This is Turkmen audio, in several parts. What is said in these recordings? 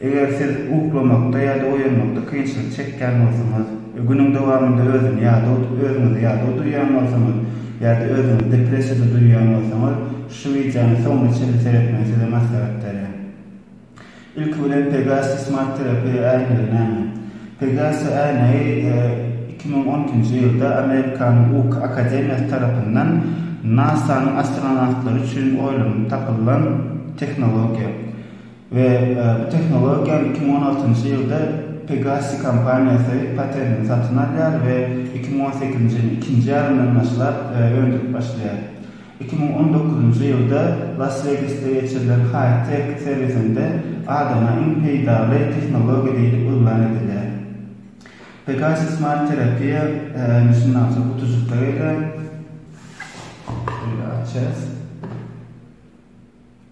Eger siz uklamakda ýa-da oýanmakda kynçylyk çekýän bolsaňyz we günüň dowamynda özüni ýadaw özüňizi ýadaw duýýan bolsaňyz ýa-da özüňizi depressiýada duýýan bolsaňyz, şu wideony soňuna çenli seretmegi size maslahat berýän. Ilki bilen Pegasi Smart Terapiýa äýnegi näme? Pegasi äýnegi iki müň on ikinji ýylda Amerikanyň Uky akademiýasy tarapyndan NASA-nyň astronawtlary üçin oýlanyp tapylan tehnologiýa. We bu tehnologiýany iki müň on altynjy ýylda Pegasi kompaniýasy patentini satyn alýar we iki müň on sekizinji ýylyň ikinji ýarymyndan başlap öndürip başlaýar. Iki müň on dokuzynjy ýylda Las Wegasda geçirilen High Tech sergisinde adama iň peýdaly tehnologiýa diýlip yglan edilýär. Pegasi Smart Terapiýa indi şundan soň gutujykka gelýär. Şeýle açýarys.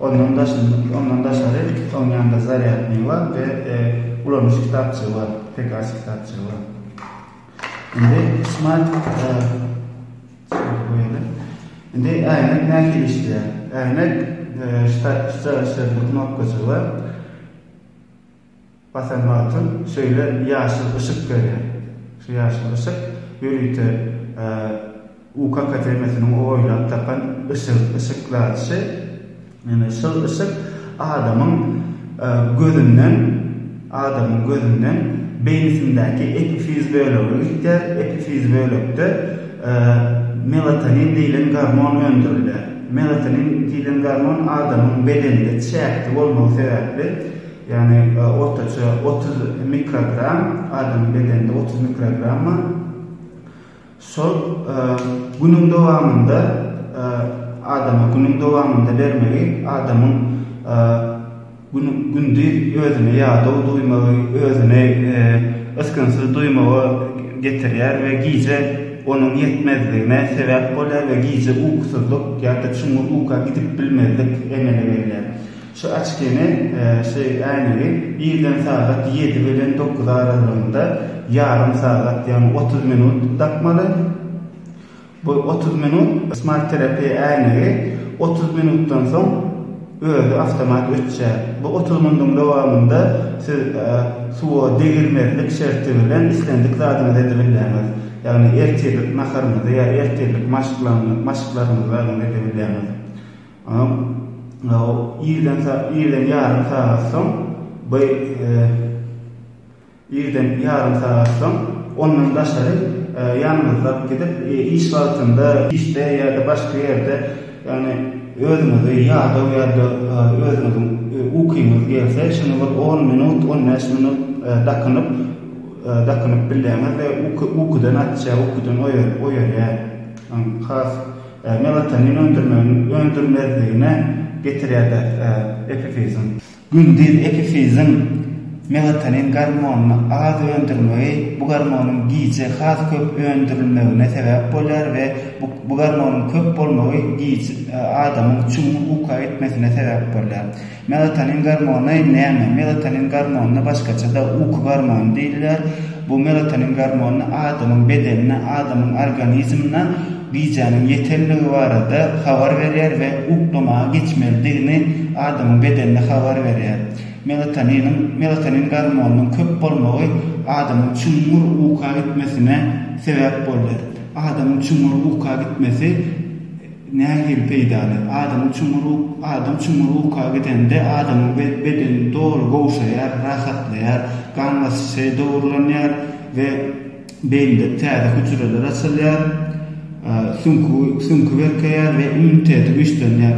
Ondan daşynda, ondan daşary oň ýanynda zarýadnyý bar we ulanyş kitapjygy bar, pekaç kitapjygy bar. Indi smart Indi äýnek nähili işleýär? Äýnek ştatiw ştatiw şertli knopkajygy bar. Basan wagtym şeýle ýaşyl yşyk berýär. Şu ýaşyl yşyk ýörite UK akademiýasynyň oýlap tapan yşygy, yşykladyşy. Ýöne şol yşyk adamyň gözünden, adamyň gözünden beýnisindäki epifiz bölege gitýär. Epifiz bölekde melatonin diýlen gormon öndürilýär. Melatonin diýlen gormon adamyň bedeninde çäkli bolmagy sebäpli, Ýagny ortaça otuz mikrogram, adamyň bedeninde otuz mikrogram bar. Şol günüň dowamynda adama günüň dowamynda bermegi adamyň gündiz özüne ýadaw duýmagy, özüni ysgynsyz duýmaga getirýär we gije onuň ýetmezligine sebäp bolýar we gije ukusyzlyk ýa-da çuňňur uka gidip bilmezlik emele gelýär. Şu açkini, şu äýnegi irden sagat ýedi bilen dokuz aralygynda ýarym sagat, ýagny otuz minut dakmaly. Bu otuz minut Smart Therapy äýnegi otuz minutdan soň özi awtomat öçýär. Bu otuz minduň dowamynda siz suwa degilmezlik şerti bilen islendik zadyňyzy edip bilýäňiz. Ýagny ertirlik naharyňyzy ýa ertirlik maşklaryňyzy edip bilýäňiz. Irden ýarym sagat soň by Irden ýarym sagat soň ondan daşary ýalňyzlap gidip, iş wagtynda, işde ýa-da başga ýerde, ýagny özüňizi ýadaw ýa-da özüňiziň ukyňyz gelse, şuny bir on minut, on bäş minut dakynyp, dakynyp bilýäňiz we ukydan açýar, ukydan oýarýar. Has. Melatonin öndürmegiň öndürilmezligine getirýär-dä epifizin. Gündiz epifizin melatonin gormonyny az öndürmegi bu gormonyň gije has köp öndürilmegine sebäp bolýar we bu gormonyň köp bolmagy adamyň çuňňur uka gitmesine sebäp bolýar. Melatonin gormony näme? Melatonin gormonyna başgaça-da uky gormony diýilýär. Bu melatonin gormony adamyň bedenine, adamyň organizmine gijäniň ýetendigi barada habar berýär we uklamaga geçmelidigini adamyň bedenine habar berýär. Melatoniniň, melatonin gormonynyň köp bolmagy adamyň çuňňur uka gitmesine sebäp bolýar. Adamyň çuňňur uka gitmesi. Nähili peýdaly? Adam çuňňur Adam çuňňur uka gidende, adamyň bedeni doly gowşaýar, rahatlaýar, gan basyşy dogrulanýar we beýnide täze hüjreler açylýar, süňki berkeýär we immuniteti güýçlenýär.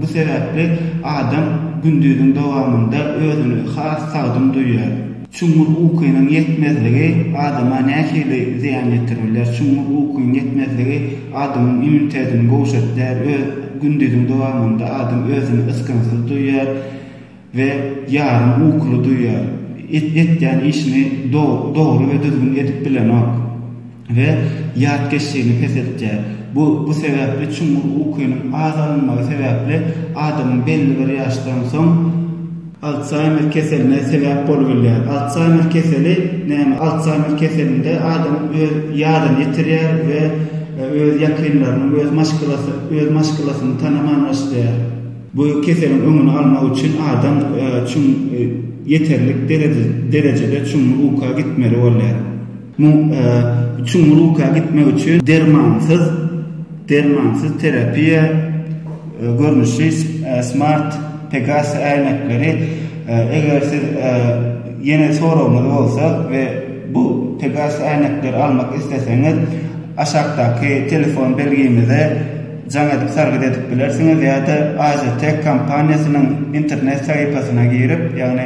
Bu sebäpli adam gündiziň dowamynda özüni has sagdyn duýýar. Çuňňur ukynyň ýetmezligi adama nähili zyýan ýetirir biler? Çuňňur ukyň ýetmezligi adamyň immunitetini gowşatýar, öz gündiziň dowamynda adam özüni ysgynsyz duýýar we ýarym ukuly duýýar, et-etýän işini do-dogry we düzgün edip bilenok. we ýatkeşligini peseltýär. Bu bu sebäpli çuňňur ukynyň az alynmagy sebäpli adamyň belli bir ýaşdan soň, Altsaymer keseline sebäp bolubilýär. Altsaymer keseli näme? Altsaymer keselinde adam öz ýadyny ýitirýär we öz ýakynlarynyň, öz maşgalasy, öz maşgalasyny tanaman başlaýar. Bu keseliň öňüni almak üçin adam çuň ýeterlik derejede çuňňur uka gitmeli bolýar. Muň çuňluka gitmek üçin dermansyz dermansyz terapiýa görnüşi smart pegas äýnekleri eger siz ýene soragyňyz bolsa we bu pegas äýnekleri almak isleseňiz aşakdaky telefon belgimize jaň edip sargyt edip bilersiňiz ýa-da AZTEK kompaniýasynyň internet sahypasyna girip ýagny